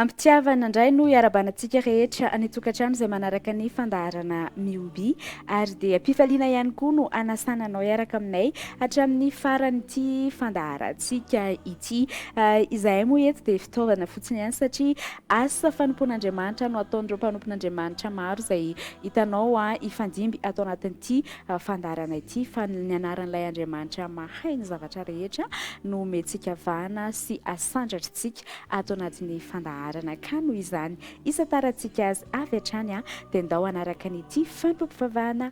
Am-pitiavana indray no iarabana antsika rehetra any an-tokantrano izay manaraka ny fandaharana Mihoby, ary dia am-pifaliana ihany koa no hanasana anao hiaraka aminay Hatramin'ny faran'ity fandaharantsika ity. Izahay moa eto dia fitaovana fotsiny ihany satria asa fanompoan'Andriamanitra no ataon'ireo mpanompon'Andriamanitra maro izay hitanao hifandimby ato anatin'ity fandaharana ity fa ny anaran'ilay Andriamanitra mahay ny zavatra rehetra no omentsika vahana sy asandratrintsika ato anatin'ny fandaharana ka noho izany isatarantsika azy avy hatrany dia ndao hanaraka an'ity fampivavahana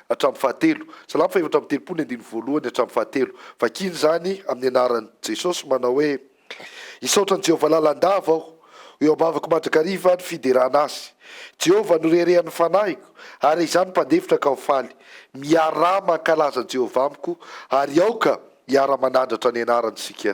hatramin'ny fahatelo. Salamo fahefatra amby telopolo ny andininy voalohany hatramin'ny fahatelo. Vakina izany amin'ny anaran'i Jesosy manao hoe, Hisaotra an'i Jehovah lalandava aho, ho eo am-bavako mandrakariva ny fiderana azy. Jehovah no reharehan'ny fanahiko, ary izany mpandefitra ka ho faly. Miaraha mankalaza an'i Jehovah amiko, ary aoka hiara-manandratra ny anarany isika.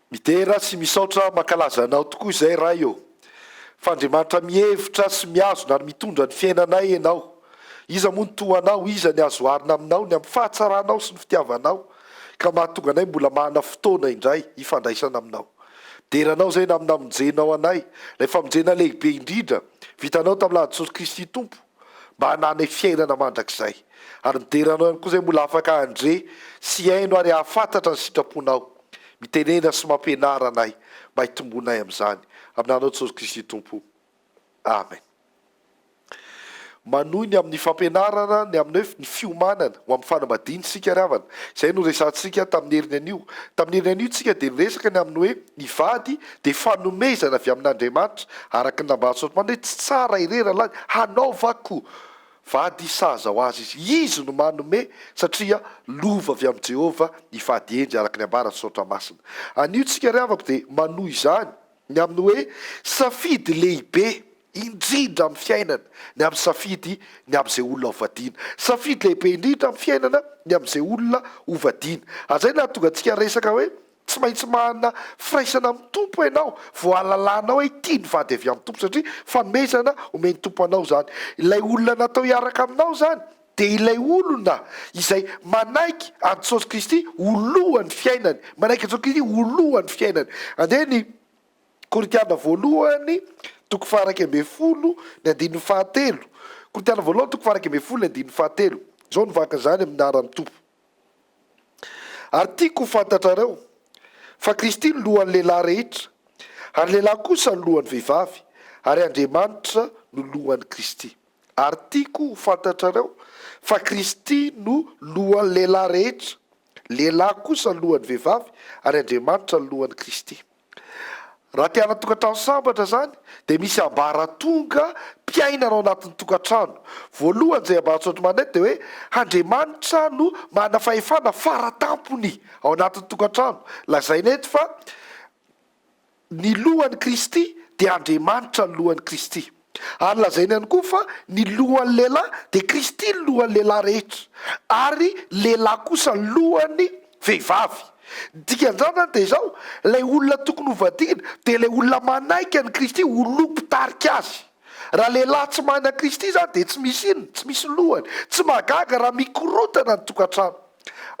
Midera sy misaotra makalaza anao tokoa izay Ray ô! Fa Andriamanitra mihevitra sy mihazona ary mitondra ny fiainanay Ianao. Iza moa no toa anao, iza ny azo oharina aminao ny amin'ny fahatsaranao sy ny fitiavanao ka mahatonga anay mbola manana fotoana indray hifandraisana aminao. Midera anao izay na amin'ny namonjenao anay, ilay famonjena lehibe indrindra vitanao tamin'ny lalan'i Jesosy Kristy Tompo. mba hananay fiainana mandrakizay. Ary midera Anao ihany koa izay mbola afaka handre sy hihaino ary hahafantatra ny sitraponao. Mitenena sy mampianara anay mba hitombonay amin'izany. Amin' Anao Jesosy Kristy Tompo. Amen. Manohy ny amin'ny fampianarana ny amin'ny hoe ny fiomanana ho amin'ny fanambadiana isika ry havana. Izay no resahantsika tamin'ny heriny anio. Tamin'ny heriny anio isika dia niresaka ny amin'ny hoe. Ny vady dia fanomezana avy amin'Andriamanitra, araka ny nambarantsika omaly hoe tsy tsara irery ralahiny hanaovako vady sahaza ho azy izy. Izy no manome satria lova avy amin'i Jehovah ny vady hendry, araka ny ambaran'ny Soratra Masina. Anio isika ry havako dia manohy izany ny amin'ny hoe safidy lehibe indrindra amin'ny fiainana ny amin'ny safidy ny amin'izay olona hovadiana. Safidy lehibe indrindra amin'ny fiainana ny amin'izay olona hovadiana. Ary izay no nahatonga antsika hiresaka hoe Tsy maintsy manana firaisana amin'ny Tompo ianao vao hahalalanao hoe tia ny vady avy amin'ny Tompo satria fanomezana omen'ny Tompo anao izany. Ilay olona natao hiaraka aminao izany dia ilay olona izay manaiky an'i Jesosy Kristy ho lohan'ny fiainany. Manaiky an'i Jesosy Kristy ho lohan'ny fiainany. Andeha ny Korintiana voalohany toko faharaika ambin'ny folo ny andininy fahatelo. Korintiana voalohany toko faharaika ambin'ny folo ny andininy fahatelo. Izao no vakan'izany amin'ny anaran'ny Tompo. Ary tiako ho fantatrareo, fa Kristy no lohan'ny lehilahy rehetra, ary ny lehilahy kosa no lohan'ny vehivavy, ary Andriamanitra no lohan'i Kristy. Ary tiako ho fantatrareo, fa Kristy no lohan'ny lehilahy rehetra, lehilahy kosa no lohan'ny vehivavy, ary Andriamanitra no lohan'i Kristy. Raha te hanan-tokantrano sambatra izany dia misy ambaratonga mpiainana ao anatin'ny tokantrano. Voalohany izay ambaratongatry Manette dia hoe Andriamanitra no manana fahefana fara tampony ao anatin'ny tokantrano. Lazaina eto fa ny lohan'i Kristy dia Andriamanitra ny lohan'i Kristy. Ary lazaina ihany koa fa ny lohan'ny lehilahy dia Kristy ny lohan'ny lehilahy rehetra, ary ny lehilahy kosa ny lohan'ny vehivavy. Ny dikan'izany izany dia izao, ilay olona tokony hovadiana dia ilay olona manaiky an'i Kristy ho loha mpitarika azy. Raha lehilahy tsy mahay an'i Kristy izany dia tsy misy inona, tsy misy lohany. Tsy mahagaga raha mikorontana ny tokantrano.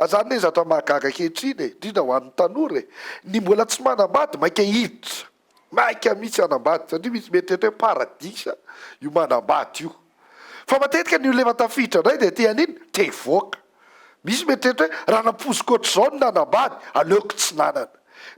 Izany anie zavatra mahagaga ankehitriny e, indrindra ho an'ny tanora e. Ny mbola tsy manambady mainka hiditra. Maika mihitsy hanambady satria misy mieritreritra hoe paradisa io manambady io. Fa matetika ny olona efa tafiditra indray dia te hanino? Te hivoaka. Misy mieritreritra hoe raha nampoiziko ohatr'izao ny nanambady, aleoko tsy nanana.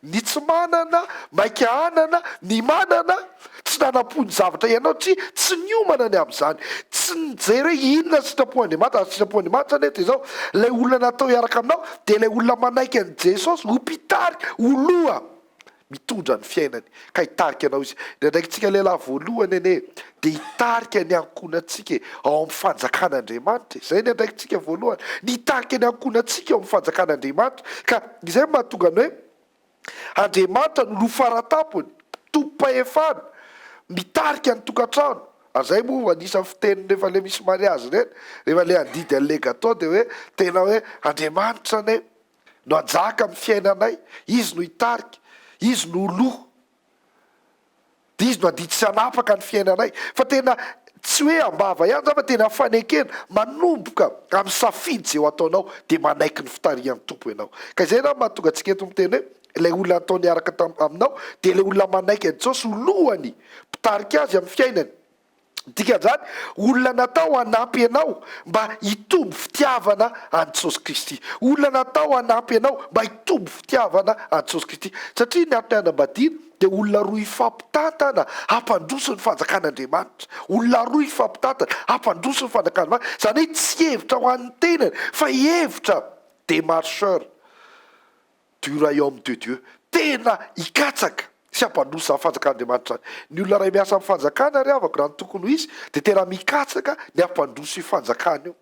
Ny tsy manana maika hanana, ny manana tsy nanampo ny zavatra ianao tsy tsy niomana ny amin'izany. Tsy nijery hoe inona sitrapon'Andriamanitra, ary sitrapon'Andriamanitra anie dia izao, ilay olona natao hiaraka aminao dia ilay olona manaiky an'i Jesosy ho mpitari, ho loha. mitondra ny fiainany ka hitarika anao izy. Ny andraikitsika lehilahy voalohany anie dia hitarika ny ankohonantsika e, ao amin'ny fanjakan'Andriamanitra e. Izay ny andraikitsika voalohany, ny hitarika ny ankohonantsika ao amin'ny fanjakan'Andriamanitra. Ka izay no mahatonga ny hoe Andriamanitra no loha faratampony, tompom-pahefana, mitarika ny tokantrano. Ary izay moa vao anisan'ny fiteniny rehefa ilay misy mariazy ireny, rehefa ilay handidy an'ilay gateau dia hoe tena hoe Andriamanitra anie no hajaka amin'ny fiainanay, Izy no hitarika, Izy no ho loha, dia Izy no hadidy sy hanapaka ny fiainanay. Fa tena tsy hoe am-bava ihany izany fa tena fanekena, manomboka amin'ny safidy izay ho ataonao dia manaiky ny fitarihan'ny Tompo ianao. Ka izay angamba no mahatonga antsika eto miteny hoe ilay olona natao niaraka taminao dia ilay olona manaiky an'i Jesosy ho lohany, mpitarika azy amin'ny fiainany. Dikan'izany, olona natao hanampy anao mba hitombo fitiavana an'i Jesosy Kristy. Olona natao hanampy anao mba hitombo fitiavana an'i Jesosy Kristy. Satria ny antony hanambadiana dia olona roa hifampitantana hampandroso ny fanjakan'Andriamanitra. Olona roa hifampitantana hampandroso ny fanjakan'Andriamanitra. Izany hoe tsy hevitra ho an'ny tenany fa hevitra démarcheur. du Royaume de Dieu, tena hikatsaka sy hampandroso ny fanjakan'Andriamanitra any. Ny olona iray miasa amin'ny fanjakana ry havako raha ny tokony ho izy dia tena mikatsaka ny hampandroso io fanjakana io.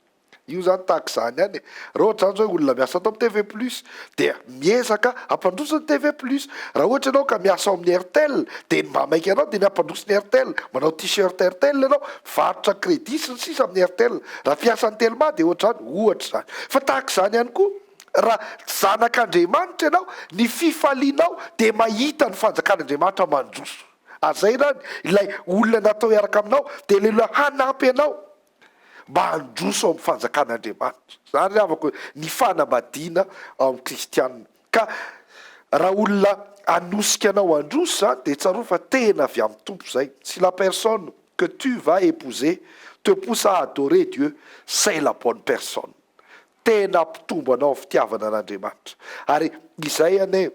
Io izany tahaka izany ihany e. Raha ohatra izany izao hoe olona miasa ato amin'ny TV plus dia miezaka hampandroso ny TV plus. Raha ohatra ianao ka miasa ao amin'ny Airtel dia ny mba maika anao dia ny hampandroso ny Airtel. Manao t-shirt Airtel ianao, varotra credit sy ny sisa amin'ny Airtel. Raha mpiasan'ny Telma dia ohatra izany, ohatra izany. Fa tahaka izany ihany koa. Raha zanak'Andriamanitra ianao, ny fifalianao dia mahita ny fanjakan'Andriamanitra mandroso. Hazaina any ilay olona natao hiaraka aminao, dia ilay olona hanampy anao mba handroso ao amin'ny fanjakan'Andriamanitra. Izany ry havako ny fanambadiana ao amin'ny kristiana. Ka raha olona hanosika anao handroso izany, dia tsarovy fa tena avy amin'ny Tompo izay. Si la personne que tu vas épouser te pousse à adorer Dieu, c'est la bonne personne. Tena hampitombo anao ny fitiavana an'Andriamanitra. Ary izay anie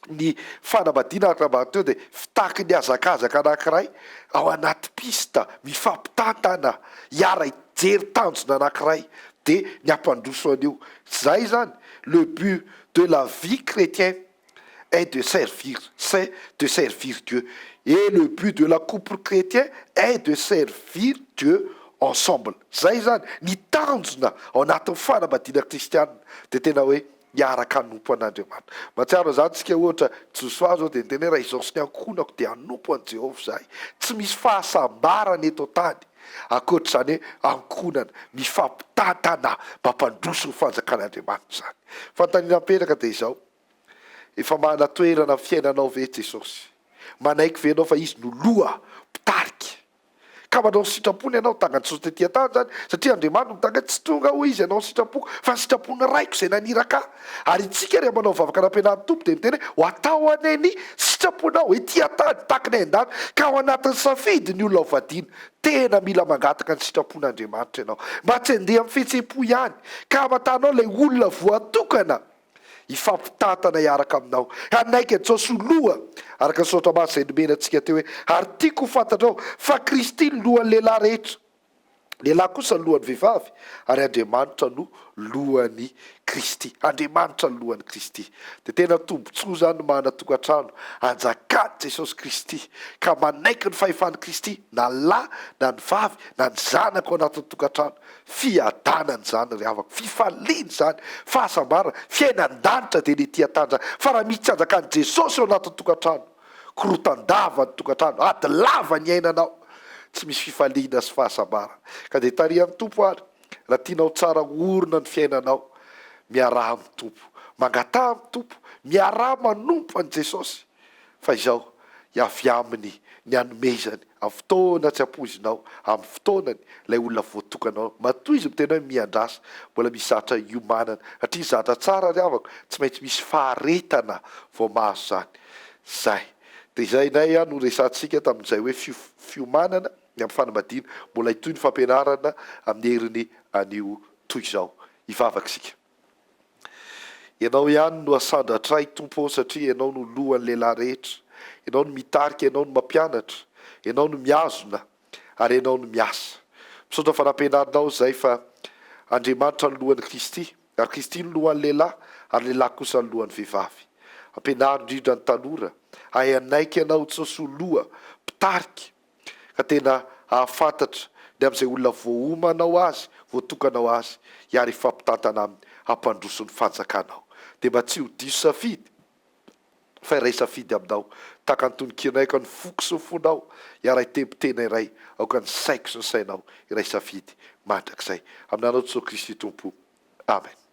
ny fanambadiana araka ny nambara teo dia fitaky ny hazakazaka anankiray ao anaty pista mifampitantana hiara hijery tanjona anankiray dia ny hampandroso an'io. Zay zany le but de la vie chrétienne. est de servir c'est de servir Dieu et le but de la couple chrétien est de servir Dieu ensemble zay zany ny tanjona ao anatin'ny fanambadiana kristianina dia tena hoe hiaraka hanompo an'Andriamanitra mahatsiaro an'izany isika ohatra Josoa zao dia niteny hoe raha izao sy ny ankohonako dia hanompo an'i Jehovah izahay tsy misy fahasambarana eto an-tany ankoatr'izany hoe ankohonana mifampitantana mampandroso ny fanjakan'Andriamanitra izany fanontaniana mipetraka dia izao Efa manana toerana amin'ny fiainanao ve Jesosy? Manaiky ve ianao fa Izy no Loha, Mpitarika? Ka manao ny sitrapony ianao, tanga an'i Jesosy tety an-tany izany, satria Andriamanitra no mitanga ahy, tsy tonga hoy Izy hanao ny sitrapoko, fa ny sitrapon'ny Raiko izay naniraka ahy. Ary itsika rehefa manao vavaka nampianarin'ny Tompo dia miteny hoe, ho atao anie ny sitraponao ety an-tany tahaka ny any an-danitra, ka ao anatin'ny safidy ny olona hovadiana. Tena mila mangataka ny sitrapon'Andriamanitra ianao, mba tsy handeha amin'ny fihetsem-po ihany, ka hamantaranao ilay olona voatokana. hifampitantana hiaraka aminao. Hanaiky an'i Jaosy ho loha, araka ny Soratra Masina izay nomena antsika teo hoe, Ary tiako ho fantatrao fa Kristy no lohan'ny lehilahy rehetra, lehilahy kosa no lohan'ny vehivavy, ary Andriamanitra no lohan'i Kristy. Andriamanitra no lohan'i Kristy. Dia tena tombontsoa izany ny manana tokantrano anjakan'i Jesosy Kristy, ka manaiky ny fahefan'i Kristy na ny lahy na ny vavy na ny zanaka ao anatin'ny tokantrano. Fiadanana izany ry havako, fifaliana izany, fahasambarana, fiainan-danitra dia ny ety an-tany izany, fa raha misy tsy anjakan'i Jesosy ao anatin'ny tokantrano, korotan-dava ny tokantrano, ady lava ny iainanao, tsy misy fifaliana sy fahasambarana. Ka dia tarihan'ny Tompo ary, raha tianao tsara orina ny fiainanao, miaraha amin'ny Tompo, mangataha amin'ny Tompo, miaraha manompo an'i Jesosy. Fa izao, i avy Aminy ny hanomezany, amin'ny fotoana tsy ampoizinao, amin'ny fotoanany, ilay olona voatokana ho. Matoa izy miteny hoe miandrasa, mbola misy zavatra hiomanana. Satria ny zavatra tsara ry havako, tsy maintsy misy faharetana vao mahazo izany. Izay. Dia izay indray no resahantsika tamin'izay hoe fiof, fiomanana ny amin'ny fanambadiana. Mbola hitohy ny fampianarana amin'ny heriny anio toy izao. Hivavaka isika. Ianao ihany no asandratray Tompo ô satria Ianao no lohan'ny lehilahy rehetra, Ianao no mitarika, Ianao no mampianatra, Ianao no mihazona ary Ianao no miasa. Misaotra fa nampianarinao izay fa Andriamanitra no lohan'i Kristy ary Kristy no lohan'ny lehilahy ary ny lehilahy kosa no lohan'ny vehivavy. Ampianaro indrindra ny tanora hahay hanaiky Anao Jesosy ho loha, mpitarika, ka tena hahafantatra ny amin'izay olona voaomanao azy, voatokanao azy, hiara hifampitantana aminy hampandroso ny fanjakanao. Dia mba tsy ho diso safidy fa iray safidy aminao, tahaka ny tonon-kianay aoka ny foko sy ny fonao, hiara hitempo tena iray aoka ny saiko sy ny sainao, iray safidy mandrakizay. Amin'Anao Jesosy Kristy Tompo. Amen.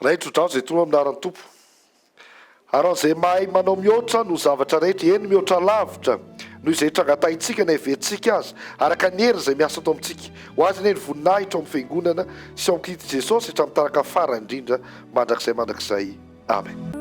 Raitro drano zay toro andaran Tompo Aran zay mahay manao mihoatra noho zavatra rehetra eny mihoatra lavitra noho izay trangatahitsika na heverintsika aza araka ny heriny zay miasa ato amintsika ho azy anie ny voninahitra ao amin'ny fiangonana sy ao amin'i Kristy Jesosy hatramin'ny taraka farany indrindra mandrakizay mandrakizay Amen.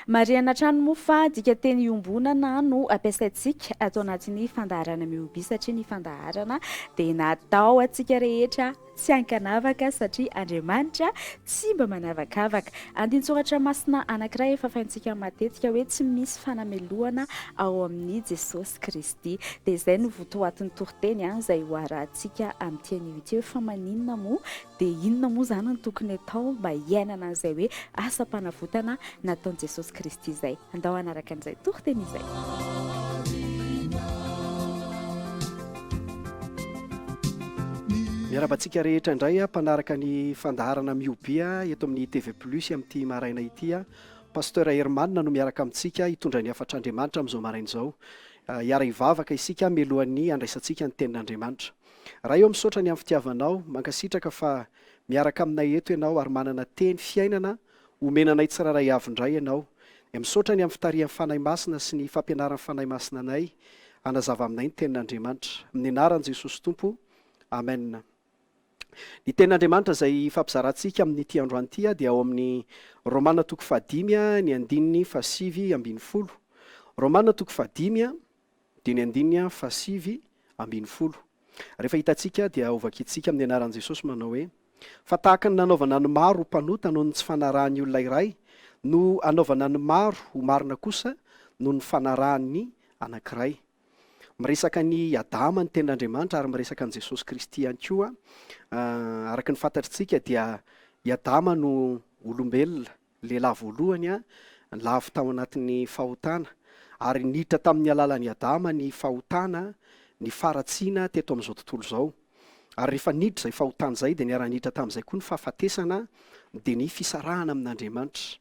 Marihana hatrany moa fa dika teny iombonana no ampiasaintsika ato anatin'ny fandaharana Mihobi satria ny fandaharana dia natao antsika rehetra tsy ankanavaka satria Andriamanitra tsy mba manavakavaka. Andinitsoratra masina anankiray efa faintsika matetika hoe tsy misy fanamelohana ao amin'i Jesosy Kristy. Dia izay no votoatin'ny toriteny izay hoarahantsika amin'ity anio ity hoe fa maninona moa Dia inona moa izany no tokony atao mba hiainana an'izay hoe asam-panavotana nataon'i Jesosy Kristy izay? Andao hanaraka an'izay toriteny izay. Miarahaba antsika rehetra indray mpanaraka ny fandaharana Miobia eto amin'ny TV Plus amin'ity maraina ity. Pasteur Herman no miaraka amintsika hitondra ny hafatr'Andriamanitra amin'izao maraina izao. Hiara-hivavaka isika mialohan'ny handraisantsika ny tenin'Andriamanitra. Ray ô misaotra ny am fitiavanao, mankasitraka fa miaraka aminay eto ianao ary manana teny fiainana omena anay tsirairay avy ndray ianao dia misaotra ny am fitarihan Fanahy Masina sy ny fampianaran Fanahy Masina anay hanazava aminay ny tenin Andriamanitra amin'ny anaran Jesosy Tompo Amen Ny tenin Andriamanitra izay hifampizarantsika amin'ity androany ity dia ao amin'ny Romana toko fahadimy ny andininy fahasivy ambin'ny folo Romana toko fahadimy Dieny andininy faha sivy ambin'ny folo. Rehefa hitantsika dia ho vakintsika amin'ny anaran'i Jesosy manao hoe, Fa tahaka ny nanaovana ny maro ho mpanota noho ny tsy fanarahan'ny olona iray, no hanaovana ny maro ho marina kosa noho ny fanarahan'ny anankiray. Miresaka an'i Adama ny tenin'Andriamanitra ary miresaka an'i Jesosy Kristy ihany koa. Araka ny fantatritsika dia i Adama no olombelona Lehilahy voalohany a, lavo tao anatin'ny fahotana, ary niditra tamin'ny alalan'i Adama ny fahotana, ny faharatsiana teto amin'izao tontolo izao. Ary rehefa niditra izay fahotana izay, dia niara-niditra tamin'izay koa ny fahafatesana, dia ny fisarahana amin'Andriamanitra.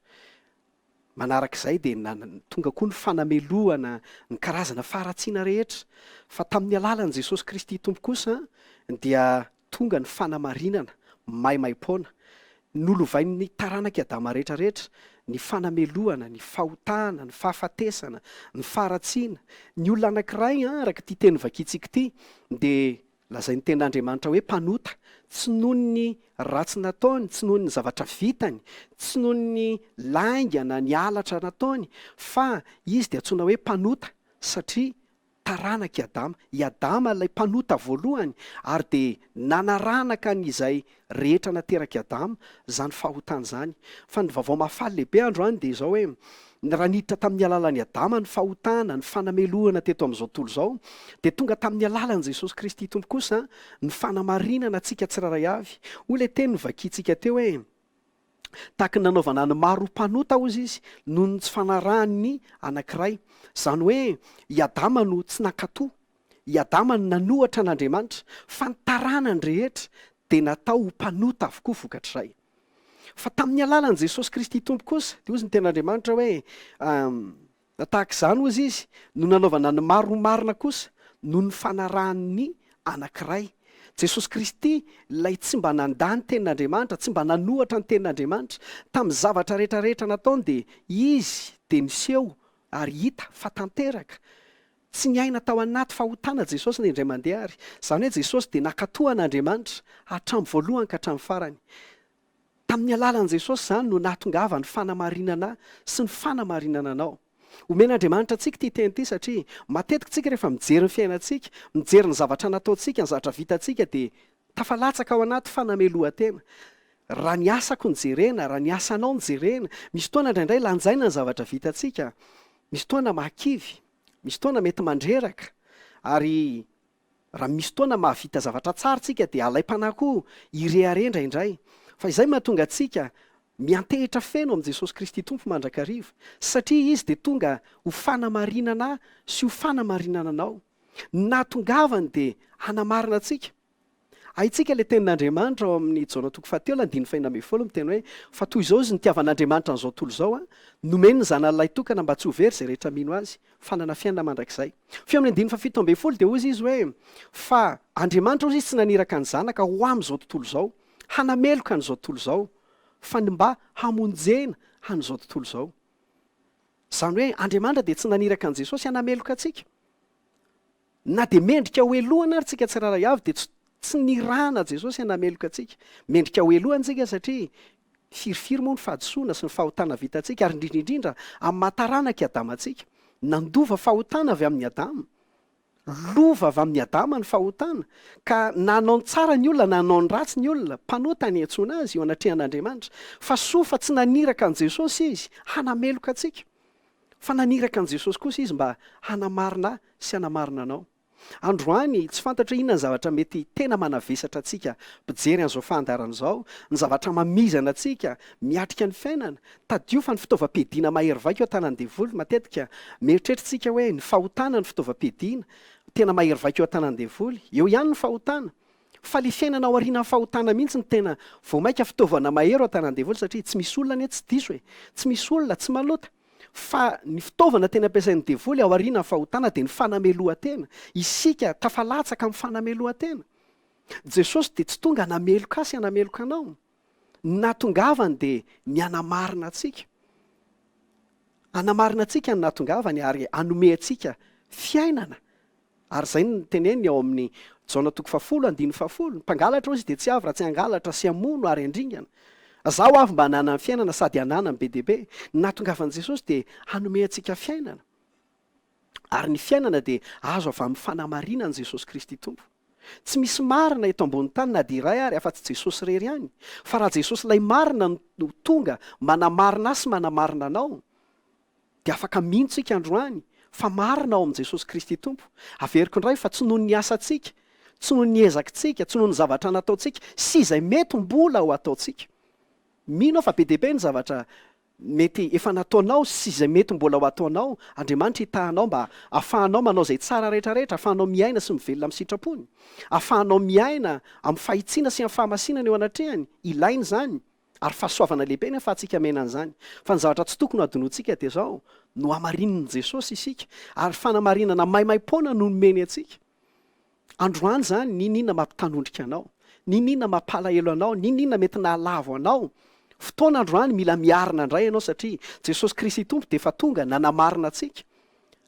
Manaraka izay dia na, tonga koa ny fanamelohana ny karazana faharatsiana rehetra. Fa tamin'ny alalan'i Jesosy Kristy Tompo kosa dia tonga ny fanamarinana maimaim-poana, nolovain'ny taranak'i Adama rehetra rehetra, ny fanamelohana, ny fahotana, ny fahafatesana, ny faharatsiana. Ny olona anankiray, araka ity teny vakintsika ity, dia lazain'ny Tenin'Andriamanitra hoe mpanota, tsy noho ny ratsy nataony, tsy noho ny zavatra vitany, tsy noho ny lainga na ny halatra nataony, fa izy dia antsoina hoe mpanota, satria taranak'i Adama. I Adama ilay mpanota voalohany ary dia nanaranaka an'izay rehetra naterak'i Adama izany fahotana izany. Fa ny Vaovao Mahafaly lehibe androany dia izao hoe, ny raha niditra tamin'ny alalan'i Adama ny fahotana, ny fanamelohana teto amin'izao tontolo izao, dia tonga tamin'ny alalan'i Jesosy Kristy Tompo kosa ny fanamarinana antsika tsirairay avy. Hoy ilay teny novakiantsika teo hoe. Tahaka ny nanaovana ny maro ho mpanota, hozy izy, noho ny tsy fanarahany ny anankiray. Izany hoe i Adama no tsy nankatò. I Adama no nanohatra an'Andriamanitra, fa ny taranany rehetra dia natao ho mpanota avokoa vokatr'izay. Fa tamin'ny alalan'i Jesosy Kristy Tompo kosa, dia hozy ny Tenin'Andriamanitra hoe, Na tahaka izany ozy izy no nanaovana ny maro ho marina kosa noho ny fanarahany ny Anankiray, Jesosy Kristy, Ilay tsy mba nandà ny Tenin'Andriamanitra, tsy mba nanohatra ny Tenin'Andriamanitra. Tamin'ny zavatra rehetra rehetra nataony dia Izy dia niseho ary hita fa tanteraka. Tsy niaina tao anaty fahotana Jesosy na indray mandeha ary. Izany hoe Jesosy dia nakatoa an'Andriamanitra hatramin'ny voalohany ka hatramin'ny farany. Tamin'ny alalan'i Jesosy izany no nahatongavan'ny fanamarinana sy ny fanamarinana anao. Omen'Andriamanitra antsika ity teny ity satria matetika isika rehefa mijery ny fiainantsika, mijery ny zavatra nataontsika, ny zavatra vitantsika dia tafalatsaka ao anaty fanamelohan-tena. Raha ny asako no jerena, raha ny asanao no jerena, misy fotoana indraindray lanjaina ny zavatra vitantsika, misy fotoana mahakivy, misy fotoana mety mandreraka ary Raha misy fotoana mahavita zavatra tsara tsika dia alaim-panahy koa hirehareha indraindray. Fa izay mahatonga antsika miantehitra feno amin'i Jesosy Kristy Tompo mandrakariva, satria Izy dia tonga ho fanamarinana sy ho fanamarinana anao. Ny nahatongavany dia hanamarina antsika. Haintsika ilay tenin'Andriamanitra ao amin'ny Jaona toko fahatelo andininy fahina ambin'ny folo miteny hoe, Fa toy izao izy nitiavan'Andriamanitra an'izao tontolo izao, nomeny ny Zanany Lahitokana mba tsy ho very izay rehetra mino Azy. fananafianina mandrakizay. Feo amin'ny andininy fahafito ambin'ny folo dia hozy izy hoe, Fa Andriamanitra hozy izy tsy naniraka ny Zanaka ho amin'izao tontolo izao, hanameloka an'izao tontolo izao, fa ny mba hamonjena an'izao tontolo izao. Izany hoe Andriamanitra dia tsy naniraka an'i Jesosy hanameloka antsika. Na dia mendrika hohelohana ary tsika tsirairay avy dia tsy nirahana Jesosy hanameloka antsika. Mendrika hohelohana tsika satria firifiry moa ny fahadisoana sy ny fahotana vitantsika ary indrindra indrindra amin'ny maha taranak'i Adama antsika. Nandova fahotana avy amin'i Adama. Lova avy amin'i Adama ny fahotana ka na hanao ny tsara ny olona na hanao ny ratsy ny olona, mpanota ny iantsoana azy eo anatrehan'Andriamanitra. Fa soa fa tsy naniraka an'i Jesosy Izy hanameloka antsika. Fa naniraka an'i Jesosy kosa izy mba hanamarina ahy sy hanamarina anao. Androany, tsy fantatra inona ny zavatra mety tena manavesatra antsika mpijery an'izao fandaharana izao, ny zavatra mamizana antsika miatrika ny fiainana. Tadidio fa ny fitaovam-piadiana mahery vaika eo an-tanan'ny Devoly, matetika mieritreritr'tsika hoe ny fahotana no fitaovam-piadiana tena mahery vaika eo an-tanan'ny Devoly. Eo ihany ny fahotana. Faly fiainana ao aorianan'ny fahotana mihitsy no tena vao maika fitaovana mahery ao an-tanàn-devoly satria tsy misy olona anie tsy diso e! Tsy misy olona tsy malota. Fa ny fitaovana tena ampiasain'ny devoly ao aorianan'ny fahotana dia ny fanamelohan-tena. Isika tafalatsaka amin'ny fanamelohan-tena. Jesosy dia tsy tonga hanameloka ahy sy hanameloka anao. Ny nahatongavany dia ny hanamarina antsika. Hanamarina antsika ny nahatongavany ary hanome antsika fiainana. Ary izay no teneniny ao amin'ny Jaona toko fahafolo andininy fahafolo, Ny mpangalatra hoy izy dia tsy avy raha tsy hangalatra sy hamono ary handringana. Izaho avy mba hananany fiainana sady hananany be dia be. Ny nahatongavan'i Jesosy dia hanome antsika fiainana. Ary ny fiainana dia azo avy amin'ny fanamarinan'i Jesosy Kristy Tompo. Tsy misy marina eto ambonin'ny tany na dia iray ary afa-tsy Jesosy irery ihany. Fa raha Jesosy ilay marina no tonga manamarina ahy sy manamarina anao, dia afaka mino tsika androany fa marina ao amin'i Jesosy Kristy Tompo. Averiko indray fa tsy noho ny asantsika, tsy noho ny ezakitsika, tsy noho ny zavatra nataontsika sy izay mety mbola ho ataontsika. Mino aho fa be dia be ny zavatra mety efa nataonao sy izay mety mbola ho ataonao. Andriamanitra hitaha anao mba afahanao manao izay tsara rehetra rehetra, afahanao miaina sy mivelona amin'ny sitrapony, afahanao miaina amin'ny fahitsiana sy amin'ny fahamasinana eo anatrehany. Ilaina izany. Ary fahasoavana lehibe ny ahafahantsika miaina an'izany. Fa ny zavatra tsy tokony hadinoantsika dia izao, Nohamarinin'i Jesosy isika, ary fanamarinana maimaim-poana no nomeny antsika. Androany izany, n'inon'inona mampitanondrika anao, n'inon'inona mampalahelo anao, n'inon'inona mety nahalavo anao, fotoana androany mila miarina indray ianao satria Jesosy Kristy Tompo dia efa tonga nanamarina antsika.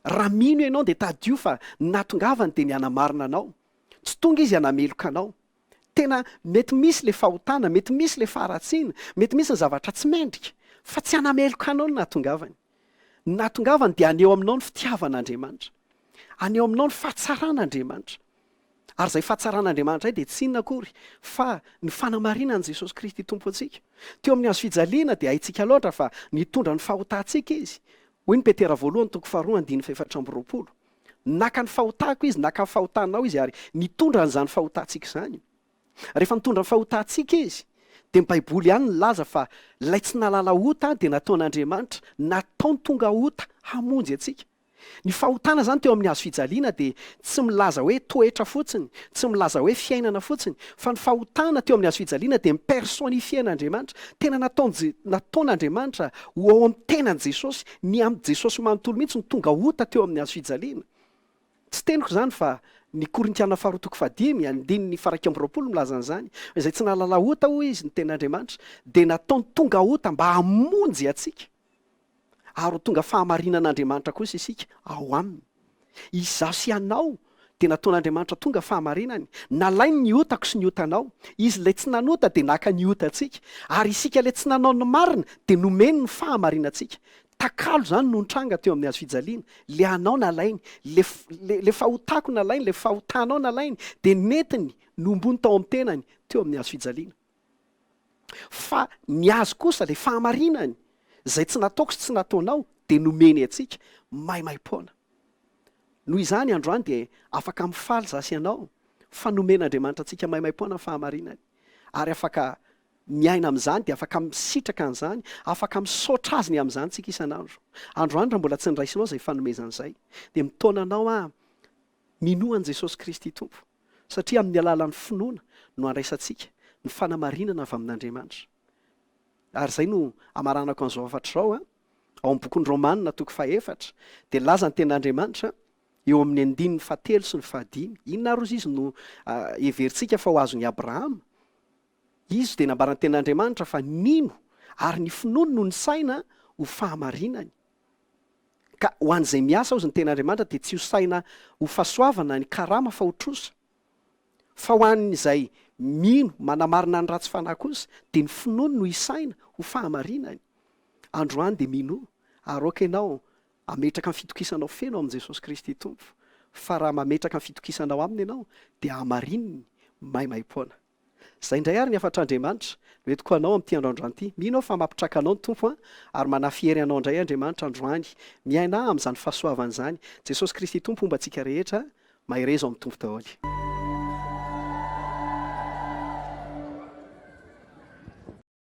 Raha mino ianao dia tadidio fa ny nahatongavany dia ny hanamarina anao. Tsy tonga Izy hanameloka anao. Tena mety misy ilay fahotana, mety misy ilay faharatsiana, mety misy ny zavatra tsy mendrika, fa tsy hanameloka anao ny nahatongavany. Ny nahatongavany dia haneho aminao ny fitiavan'Andriamanitra, haneho aminao ny fahatsaran'Andriamanitra. Ary izay fahatsaran'Andriamanitra izay dia tsy inona akory fa ny fanamarinan'i Jesosy Kristy Tompo antsika. Teo amin'ny hazo fijaliana dia haintsika loatra fa nitondra ny fahotantsika Izy. Hoy ny Petera voalohany toko faharoa andininy fahefatra amby roapolo. Naka ny fahotako Izy, naka ny fahotanao Izy ary nitondra an'izany fahotantsika izany. Rehefa nitondra ny fahotantsika Izy, dia ny Baiboly ihany nilaza fa ilay tsy nahalala ota dia nataon'Andriamanitra, nataony tonga ota hamonjy antsika. Ny fahotana izany teo amin'ny hazofijaliana dia tsy milaza hoe toetra fotsiny, tsy milaza hoe fiainana fotsiny, fa ny fahotana teo amin'ny hazofijaliana dia mi-personnifier an'Andriamanitra. Tena nataon'i, nataon'Andriamanitra ho ao amin'ny tenan'i Jesosy Ny amin'i Jesosy manontolo mihitsy no tonga ota teo amin'ny hazofijaliana. Tsy teniko izany fa ny Korintiana faharoa toko fahadimy, andininy faharaika amby roapolo milaza an'izany, izay tsy nahalala ota hoy izy ny tenin'Andriamanitra, dia nataony tonga ota mba hamonjy antsika, ary ho tonga fahamarinan'Andriamanitra kosa isika ao aminy. Izaho sy ianao dia nataon'Andriamanitra tonga fahamarinany, nalainy ny otako sy ny otanao, Izy ilay tsy nanota dia naka ny otantsika, ary isika ilay tsy nanao ny marina dia nomeny ny fahamarinantsika. Takalo izany no nitranga teo amin'ny hazofijaliana, ilay anao nalainy, ilay, ilay fahotako nalainy, ilay fahotanao nalainy dia nentiny, nombony tao amin'ny tenany, teo amin'ny hazofijaliana. Fa ny azy kosa, ilay fahamarinany, izay tsy nataoko sy tsy nataonao, dia nomeny antsika maimaim-poana. Noho izany, androany dia afaka mifaly izaho sy ianao, fa nomen'Andriamanitra antsika maimaim-poana ny fahamarinany, ary afaka miaina amin'izany, dia afaka misitraka an'izany, afaka misaotra Azy ny amin'izany isika isan'andro. Androany, raha mbola tsy niraisinao izay fanomezana izay, dia mitaona anao aho Minoa an'i Jesosy Kristy Tompo, satria amin'ny alalan'ny finoana no andraisantsika ny fanamarinana avy amin'Andriamanitra. Ary izay no amaranako an'izao hafatra izao, ao amin'ny bokin'ny Romana toko fahefatra dia nilaza ny tenin'Andriamanitra eo amin'ny andininy fahatelo sy ny fahadimy, inona ary ozy izy no heverintsika fa ho azon'i Abrahama? Izy dia nambaran'ny tenin'Andriamanitra fa nino ary ny finoany no nisaina ho fahamarinany. Ka ho an'izay miasa hozy ny ten'Andriamanitra dia tsy ho saina ho fahasoavana ny karama fa ho trosa. Fa ho an'izay mino manamarina ny ratsy fanahy kosa dia ny finoany no hisaina ho fahamarinany. Androany dia minoa ary aoka ianao hametraka ny fitokisanao feno amin'i Jesosy Kristy Tompo fa raha mametraka ny fitokisanao Aminy ianao dia hamarininy maimaim-poana. Izay indray ary ny hafatr'Andriamanitra no entiko ho anao amin'ity andro androany ity. Mino aho fa mampitraka anao ny Tompo an! Ary manafy hery anao indray Andriamanitra androany. Miaina amin'izany fahasoavany izany. Jesosy Kristy Tompo homba antsika rehetra. Mahereza ao amin'ny Tompo daholo.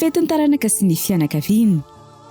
Fetin'ny taranaka sy ny fianakaviany.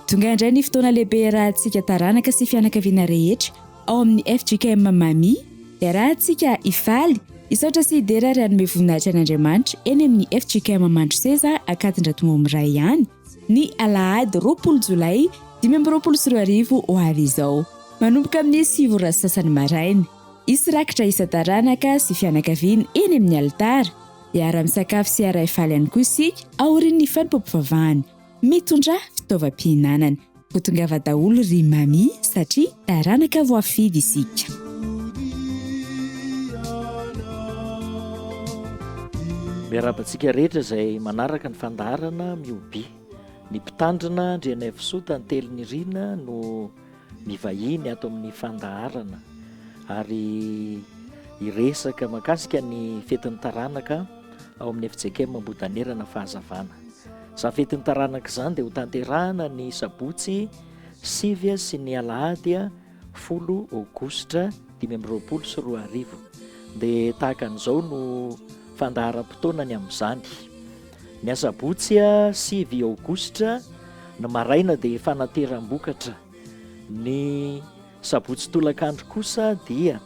Tonga indray ny fotoana lehibe iarahantsika taranaka sy fianakaviana rehetra ao amin'ny fjkm Mami, iarahantsika hifaly, hisaotra sy hidera ary hanome voninahitra an'Andriamanitra eny amin'ny fjkm Mandroseza Ankadindratomombo iray ihany ny alahady roapolo jolay dimy amby roapolo sy roa arivo ho avy izao manomboka amin'ny sivy ora sy sasany maraina. Hisy rakitra isan-taranaka sy fianakaviana eny amin'ny alitara. Hiara-misakafo sy hiaray faly ihany koa isika aorian'ny fanompoam-pivavahana. Mitondrà fitaovam-pihinanana. Ho tongava daholo ry Mamy satria taranaka voafidy isika. Miarahaba antsika rehetra izay manaraka ny fandaharana Miobi. Ny Mpitandrina Andrianaivosoa Tantely Nirina no mivahiny ato amin'ny fandaharana ary hiresaka makasika ny fetin'ny taranaka ao amin'ny FJKM Ambohidanerana fahazavana. Izany fetin'ny taranaka izany dia ho tanterahana ny sabotsy sivy sy ny alahady folo aogositra dimy amby roapolo sy roa arivo. Dia tahaka an'izao no fandaharam-potoana ny amin'izany. Ny asabotsy sivy aogositra ny maraina dia fanateram-bokatra. Ny sabotsy tolakandro kosa dia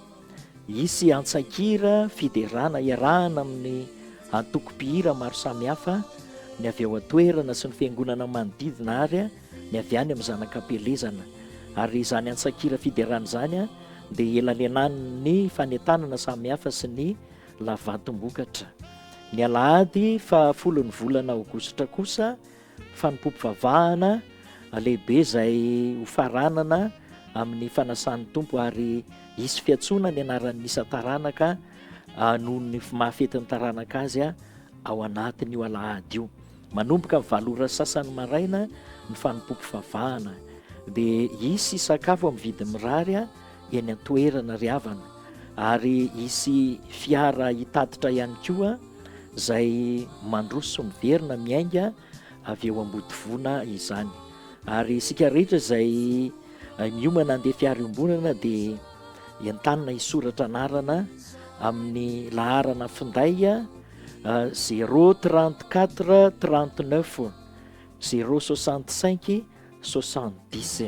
hisy antsakira fiderana iarahana amin'ny antoko mpihira maro samihafa ny avy ao an-toerana sy ny fiangonana manodidina ary ny avy any amin'ny zanak'ampielezana. Ary izany antsakira fiderana izany dia elalenanin'ny fanentanana samihafa sy ny Lavatom-bokatra. Ny alahady faha folon'ny volana aogositra kosa, fanompoam-pivavahana lehibe izay hofaranana amin'ny fanasan'ny Tompo ary hisy fiantsoana ny anaran'ny isan-taranaka noho ny maha fety ny taranaka azy ao anatin'io alahady io. Manomboka valo ora sasany maraina ny fanompoam-pivavahana, dia hisy sakafo amin'ny vidiny mirary eny an-toerana ry havana, ary hisy fiara hitatitra ihany koa izay mandroso miverina miainga avy eo Ambodivona izany, ary isika rehetra izay miomana handeha fiara iombonana dia entanina hisoratra anarana amin'ny laharana finday. zéro trente quatre trente neuf zéro soixante cinq soixante dix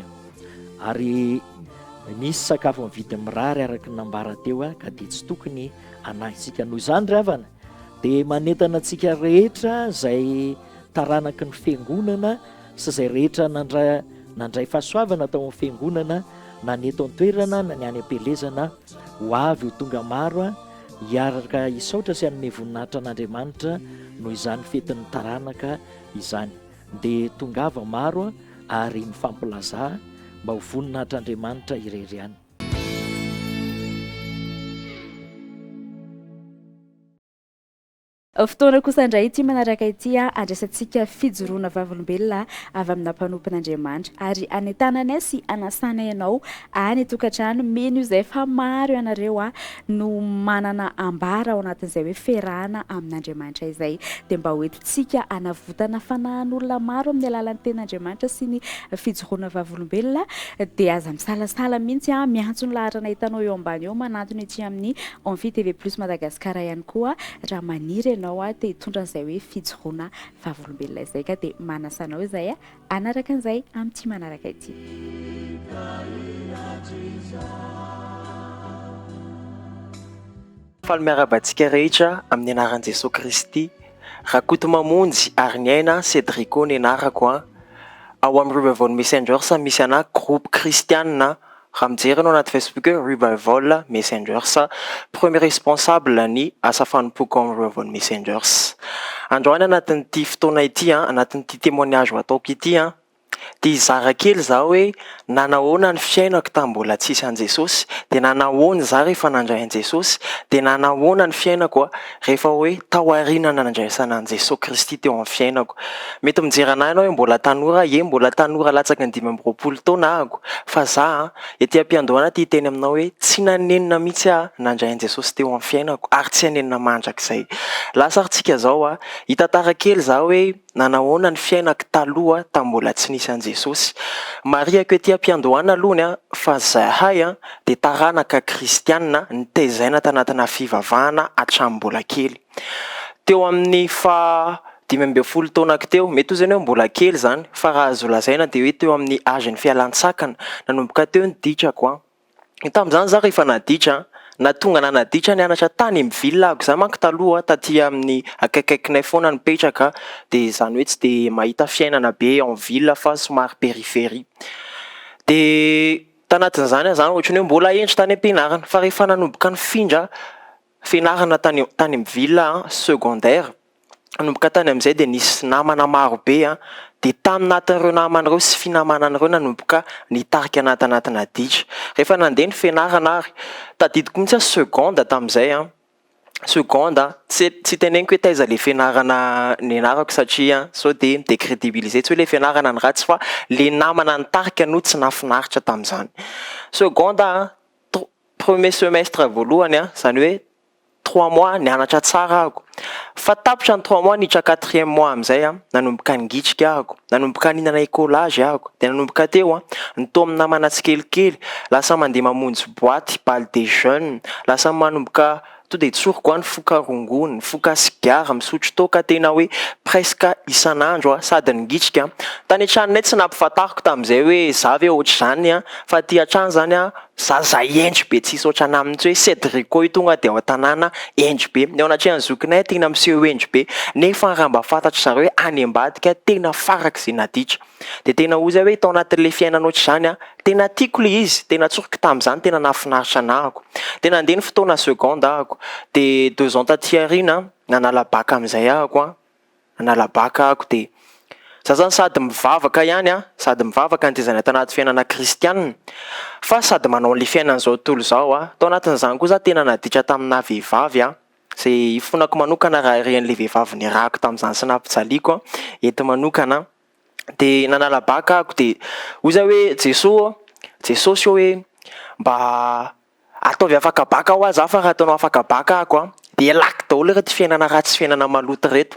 ary misy sakafo amin'ny vidiny mirary araka ny nambara teo a ka dia tsy tokony anahintsika noho izany ry havana dia manentana antsika rehetra izay taranaky ny fiangonana sy izay rehetra nandray nandray fahasoavana tao amin'ny fiangonana na ny eto an-toerana na ny any am-pielezana Ho avy ho tonga maro hiaraka hisaotra sy hanome voninahitra an'Andriamanitra noho izany fetin'ny taranaka izany. Dia tongava maro ary mifampilazà mba ho voninahitr'Andriamanitra irery ihany. Fotoana kosa indray ity manaraka ity handraisantsika fijoroana vavolombelona avy amina mpanompon'Andriamanitra, ary hanentananay sy hanasanay ianao any an-tokantrano. Mino izay fa maro ianareo no manana ambara ao anatin'izay hoe fiarahana amin'Andriamanitra izay, dia mba hoentintsika hanavotana fanahin'olona maro amin'ny alalan'ny tenin'Andriamanitra sy ny fijoroana vavolombelona, dia aza misalasala mihitsy miantso ny laharanay hitanao eo ambany eo manantona ety amin'ny Amphi TV Plus Madagascar ihany koa. Raha maniry ianao te hitondra an'izay hoe fijoroana vavolombelona izay ka dia manasa anao izahay hanaraka an'izay amin'ity manaraka Faly miarahaba antsika rehetra amin'ny anaran'i Jesoa Kristy. Rakotomamonjy Hariniaina Cedrico ny anarako an. Ao amin'ny Revival Messengers misy anà groupe kristianina Raha mijery anao anaty Facebook hoe Revival Messengers, premier responsable ny asa fanompoako ao amin'ny Revival Messengers. Androany anatin'ity fotoana ity, anatin'ity témoignage ho ataoko ity, dia hizara kely izaho hoe nanahoana ny fiainako tamin'ny mbola tsisy an'i Jesosy, dia nanahoana izaho rehefa nandray an'i Jesosy, dia nanahoana ny fiainako Rehefa hoe tao aoriana nandraisana an'i Jesoa Kristy teo amin'ny fiainako. Mety mijery an'ahy ianao hoe mbola tanora, ie mbola tanora latsaky ny dimy amby roapolo taona ahako, fa za ety am-piandohana ity hiteny aminao hoe tsy nanenina mihitsy aho nandray an'i Jesosy teo amin'ny fiainako ary tsy hanenina mandrakizay. Lasa ary tsika zao, hitantara kely za hoe. na nahoana ny fiainako taloha tamin'ny mbola tsy nisy an'i Jesosy. Marihiko ety am-piandohana alohany fa izahay dia taranaka kristiana nitezaina tanatina fivavahana hatramin'ny mbola kely. Teo amin'ny faha dimy ambin'ny folo taonako teo, mety ho izany hoe mbola kely izany, fa raha azo lazaina dia hoe teo amin'ny âge-n'ny fialan-tsakana, nanomboka teo ny dikako. Tamin'izany izaho rehefa naditra, na tonga na naditra nianatra tany amin'ny ville ako, izaho manko taloha taty amin'ny akaikikaikinay foana nipetraka dia izany hoe tsy dia mahita fiainana be en ville fa somary périphérie. Dia tanatin'izany aho izany ohatran'ny hoe mbola hendry tany am-pianarana fa rehefa nanomboka nifindra, fianarana tany tany amin'ny villa secondaire, nanomboka tany amin'izay dia nisy namana maro be an, dia tany natin'ireo namana ireo sy finamanana ireo nanomboka nitarika anah tanatina dihy, rehefa nandeha ny fianarana ary tadidiko mihitsy aho seconde tamin'izay an, seconde tsy tsy teneniko hoe taiza ilay fianarana nianarako satria sao dia mi decredibiliser tsy hoe ilay fianarana no ratsy fa ilay namana nitarika no tsy nahafinaritra tamin'izany, seconde an. Premier semestre voalohany an, izany hoe trois mois nianatra tsara ahako, fa tapitra ny trois mois niditra quatrième mois amin'izay an, nanomboka nigitrika ahako, nanomboka nihinana écolage ahako, dia nanomboka teo an, ny tao amin'ny namana tsikelikely, lasa mandeha mamonjy boite, bal des jeunes, lasa manomboka, To dia tsoriko any foka rongony, foka sigara, misotro toaka tena hoe presque isan'andro aho sady ningitrika. Tany an-tranonay tsy nampifantariko tamin'izay hoe za ve ohatr'izany fa aty hatrany izany aho za zay hendry be tsisy ohatran'ahy mihitsy hoe Cedrico io tonga dia ao an-tanàna hendry be. Ny ao anatrehan'ny zokinay tena miseho hendry be nefa raha mba fantatry zareo hoe any ambadika tena farak'izay naditra. Dia tena hoy izay hoe tao anatin'ilay fiainana ohatr'izany an, tena tiako ilay izy, tena tsoriko tamin'izany, tena nahafinaritra anah ako. Dia nandeha ny fotoana seconde aho ako, dia deux ans taty aoriana nanala bac amin'izay aho ako an, nanala bac aho ako dia za zany sady mivavaka ihany an, sady mivavaka ny tetezana tao anaty fiainana kristianina fa sady manao an'ilay fiainana izao tontolo izao aho, tao anatin'izany koa za tena naditra taminah vehivavy an. Ze ifonako manokana raha ireny le vehivavy niarahako tamin'izany sy nampijaliako eto manokana de nanala bac aho de hoy zah hoe Jeso ô, Jesosy ô hoe mba ataovy afaka bac hoa zah fa raha ataonao afaka bac aho ko de alako daholo ireto fiainana ratsy sy fiainana maloto ireto.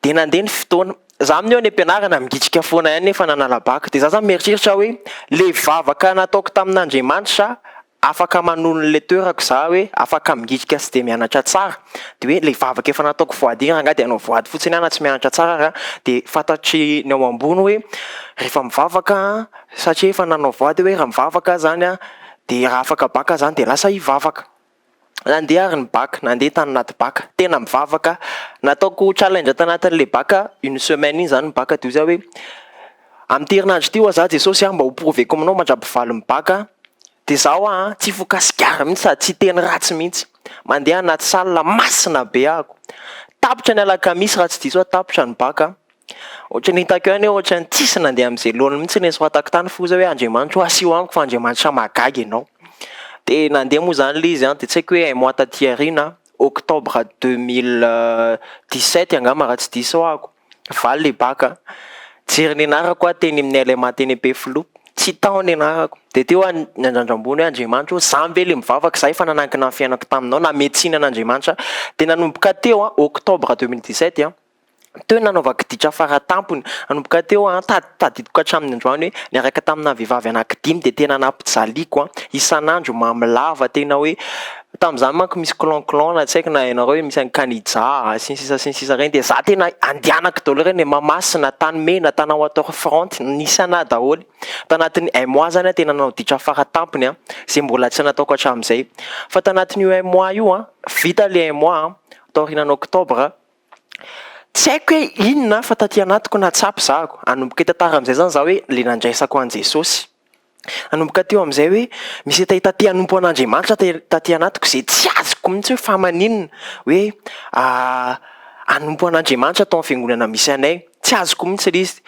De nandeha ny fotoana, zah amin'io any am-pianarana migitrika foana ihany nefa nanala bac de zah zany mieritreritra hoe le vavaka nataoko tamin'Andriamanitra afaka manolo ny leteur-ko za hoe afaka mingijika sy de mianatra tsara de hoe le vavaka efa nataoko voady iny rangah de anao voady fotsiny ana tsy mianatra tsara ra de fantatry ny ao ambony hoe refa mivavaka satria efa nanao voady hoe ra mivavaka zany a de ra afaka baka zany de lasa hivavaka. Nandeha ary ny bac, nandeha tany anaty bac, tena mivavaka, nataoko challenge tanatin'ilay bac une semaine iny zany ny bac de oziaho hoe amin'ity herinandro ity oa za Jesosy a mba ho prouver-ko aminao mandrapivaly ny bac de za oa a tsy hifoka sigara mintsy sady tsy hiteny ratsy mintsy, mandeha anaty salle masina be ahako, tapitra ny alakamisy raha tsy diso aho tapitra ny bac. Ohatra ny hitako ihany hoe ohatra ny tsisy nandeha amin'izay laoniny mihitsy ilay soratako tany f'ozy hoe Andriamanitro asio amiko fa Andriamanitra mahagaga ianao. Dia nandeha moa izany ilay izy dia tsy haiko hoe un mois taty aoriana octobre deux mille dix sept angamba raha tsy diso aho ko valy ilay bac a. Nijery ny anarako aho teny amin'ny LMA teny Ampefiloha, tsy hita ao ny anarako. Dia teo aho niandrandra ambony hoe Andriamanitra ô izaho ve ilay mivavaka, izaho efa nanankina ny fiainako taminao, namehy tsiny an'Andriamanitra aho. Dia nanomboka teo an, octobre deux mille dix sept an. Teo ny nanaovako ditra fara tampony. Nanomboka teo, tadidiko hatramin'ny androany hoe niaraka taminà vehivavy anankidimy dia tena nampijaliako isan'andro mamy lava tena hoe tamin'izany manko misy clan clan na tsy haiko na ianareo hoe misy an'i Kanija sy ny sisa sy ny sisa ireny dia izaho tena andianako daholo ireny hoe Mahamasina, Tanimena, Tanà Water front, nisy anà daholo. Tanatin'ny un mois izany aho tena nanao ditra fara tampony izay mbola tsy nataoko hatramin'izay. Fa tanatin'io un mois io, vita ilay un mois, taorianan'ny octobre, Tsy haiko hoe inona fa taty anatiko nahatsapa za ko. Hanomboka hitantara amin'izay zany za hoe le nandraisako an'i Jesosy. Hanomboka teo amin'izay hoe misy hetahetan te hanompo an'Andriamanitra te taty anatiko izay tsy azoko mihitsy hoe fa maninona hoe hanompo an'Andriamanitra tao amin'ny fiangonana misy anay. Tsy azoko mihitsy ilay izy.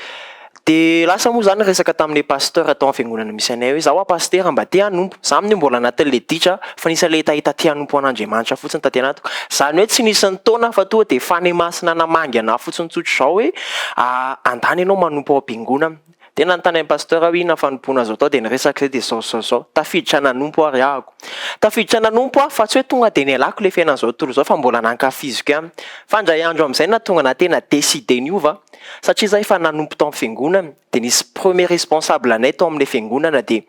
Dia lasa moa izany resaka tamin'ilay pasteur tao amin'ny fiangonana misy anay hoe, izaho hoa pasitera mba te hanompo. Izaho amin'io mbola anatin'ilay ditra fa nisy an'ilay hita te hanompo an'Andriamanitra fotsiny taty anatiko. Izany hoe tsy nisy ny taona fa tonga dia fanahy masina namangy an'ahy fotsiny tsotra izao hoe, andany ianao manompo ao am-piangonana. Dia nanontany an'i Pasteur aho hoe inona fanompoana azo atao dia ny resaka izay dia zao zao zao. Tafiditra nanompo ary ahako. Tafiditra nanompo aho fa tsy hoe tonga dia nialako ilay fiainan'izao tontolo izao fa mbola nankafiziko ihany. Fa indray andro amin'izay nahatonga anah tena décider niova satria izaho efa nanompo tao amin'ny fiangonana dia nisy premier responsable anay tao amin'ilay fiangonana dia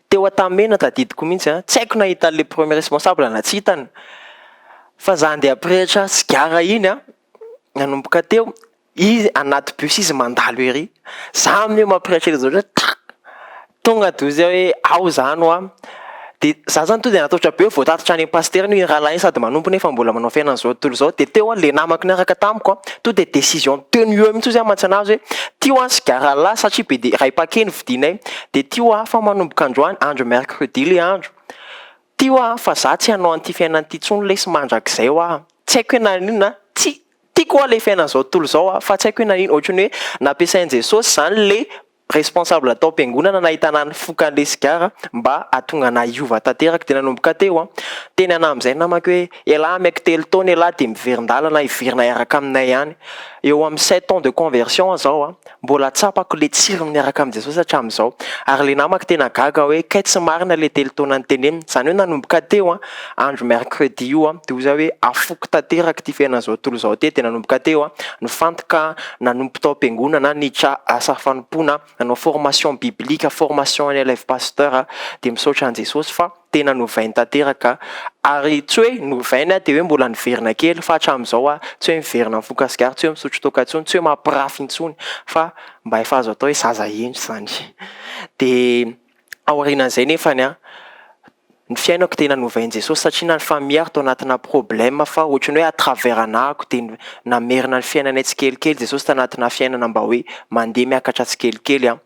teo an-tamena tadidiko mihitsy an, tsy haiko na hitan'ilay premier responsable na tsy hitany fa izaho andeha am-pirehitra sigara iny an, nanomboka teo Izy anaty bus izy mandalo ery, za aminy eo mampiraitr'ela zao ndray tra! tonga de ozy hoe ao za no a! de za zany tonga de natahotra be vao tatitra any am pasitera iny rahalahy iny sady manompo nefa mbola manao fiainana zao tontolo zao, de teo le namako niaraka tamiko a! tonga de décision teo no eo mintsy ozy a! mantsy anah ozy hoe ty hoa sigara lahy satria be de ray paquet no vidinay, de ty hoa fa manomboka androany, andro mercredi le andro, ty hoa fa za tsy hanao an'ty fiainana ty tsony lesy mandrakizay hoa! tsy haiko hoe naninona a! tsia! Tiako wa le fiainan'izao tontolo izao a, fa tsy haiko hoe nanino, ohatran'ny hoe nampiasain'i Jesosy izany le responsable tao am-piangonana nahitana an'i fokan'le sigara mba hahatonga anah hiova tanteraka, dia nanomboka teo an, teny anah amin'izay namako hoe elah ameko telo taona elah dia miverin-dalana hiverina hiaraka aminay any, eo amin'ny sept ans de conversion aho izao an. Mbola tsapako le tsirony miaraka amin'i Jesosy hatramin'izao. Ary le namako tena gaga hoe kay tsy marina le telo taona niteneniny. Zany hoe nanomboka teo an, andro mercredi io an, de hoy za hoe afoiko tanteraka ity fiainana zao tontolo zao ty, de nanomboka teo an, nifantoka, nanompo tao am-piangonana, niditra asa fanompoana, nanao formation biblique, formation an'i Elève Pasteur, de misaotra an'i Jesosy fa. tena novainy tanteraka ary tsy hoe novainy aho dia hoe mbola niverina kely fa hatramin'izao aho tsy hoe miverina mifoka sigara, tsy hoe misotro toaka intsony, tsy hoe mampirafy intsony fa mba efa azo atao hoe zaza hendry izany. Dia aorianan'izay nefany an, ny fiainako tena novain'i Jesosy satria na ny famille ary tao anatina problème fa ohatran'ny hoe à travers anahako dia namerina ny fiainanay tsikelikely Jesosy tanatina fiainana mba hoe mandeha miakatra tsikelikely an.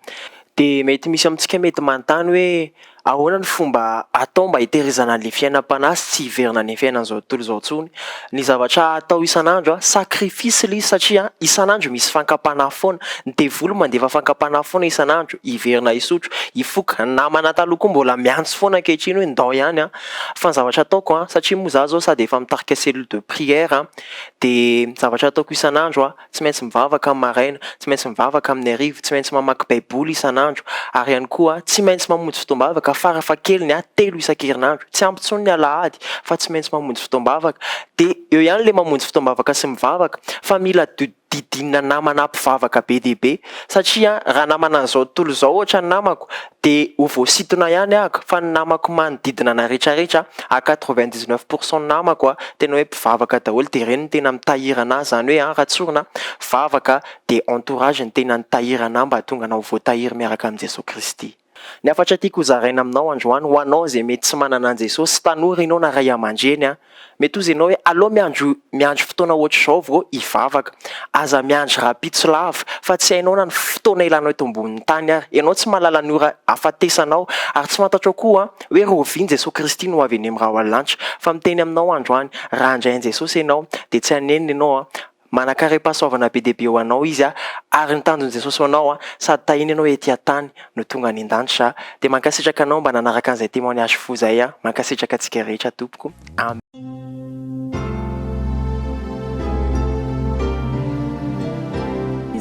Dia mety misy amintsika mety manontany hoe Ahoana ny fomba atao mba hitehirizana an'ilay fiainam-panahy sy tsy hiverina any amin'ny fiainan'izao tontolo izao intsony? Ny zavatra atao isan'andro, sacrifice ilay izy satria isan'andro misy fankam-panahy foana. Ny devoly mandefa fankam-panahy foana isan'andro, hiverina hisotro, hifoka. Ny namana taloha koa mbola miantso foana ankehitriny hoe ndao ihany fa ny zavatra ataoko satria moa izaho izao sady efa mitarika cellule de prière dia ny zavatra ataoko isan'andro, tsy maintsy mivavaka amin'ny maraina, tsy maintsy mivavaka amin'ny hariva, tsy maintsy mamaky Baiboly isan'andro, ary ihany koa tsy maintsy mamonjy fotoam-bavaka farafahakeliny telo isan-kerinandro. Tsy ampy intsony ny alahady fa tsy maintsy mamonjy fotoam-bavaka. Dia eo ihany ilay mamonjy fotoam-bavaka sy mivavaka, fa mila didinina namana mpivavaka be dia be. Satria raha namana an'izao tontolo izao ohatra ny namako, Dia ho voasintona ihany ahako fa ny namako manodidina anay retraretra à quatre vingt dix neuf pour cent namako a tena hoe mpivavaka daholo dia ireny no tena mitahiry anah zany hoe an ratsorina vavaka dia entourage no tena nitahiry anah mba hahatonga anah ho voatahiry miaraka amin'i Jesoa Kristy. Ny hafatra tiako ho zaraina aminao androany ho anao izay mety tsy manana an'i Jesosy, tanora ianao na ray aman-dreny an, Mety ho izenao hoe aleo miandry miandry fotoana ohatr'izao vao hivavaka. Aza miandry rahampitso lava, fa tsy hainao na ny fotoana hilanao eto ambonin'ny tany ary. Ianao tsy mahalala ny ora hahafatesanao, ary tsy fantatrao koa hoe rahoviana Jesoa Kristy no ho avy eny amin'ny rahona lanitra. Fa miteny aminao androany, raha handray an'i Jesosy ianao, dia tsy hanenina ianao. Manankarem-pahasoavana be dia be ho anao Izy ary ny tanjon'i Jesosy ho anao sady tahiny ianao ety an-tany no tonga any an-danitra dia mankasitraka anao mba nanaraka an'izay témoignage fou izay mankasitraka antsika rehetra tompoko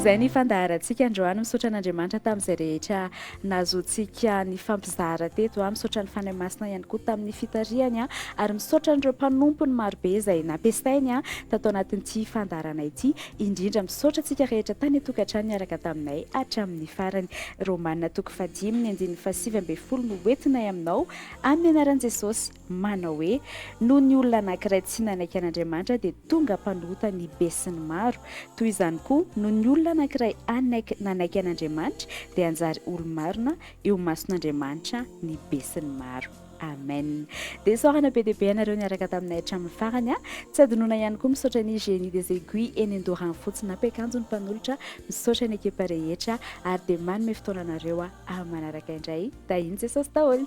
Izay ny fandaharantsika androany misaotra an'Andriamanitra tamin'izay rehetra nahazoantsika nifampizara teto. Misaotra ny Fanahy Masina ihany koa tamin'ny fitarihany ary misaotra an'ireo mpanompony marobe izay nampiasainy tato anatin'ity fandaharana ity. Indrindra misaotra antsika rehetra tany an-tokantrano niaraka taminay hatramin'ny farany. Romana toko fahadimy ny andininy fahasivy ambin'ny folo no hoentinay aminao amin'ny anaran'i Jesosy. manao hoe, Noho ny olona anankiray tsy nanaiky an'Andriamanitra, dia tonga mpanota ny besinimaro. Toy izany koa, noho ny olona anankiray hanaiky nanaiky an'Andriamanitra, dia hanjary olo-marina eo mason'Andriamanitra ny besinimaro. Amen. Dia isaorana be dia be anareo niaraka taminay hatramin'ny farany. Tsy adinona ihany koa misaotra ny Génie des Aiguilles eny Andoharanofotsy nampiakanjo ny mpanolotra. Misaotra ny ekipa rehetra ary dia manome fotoana anareo aho manaraka indray. Tahian'i Jesosy daholo.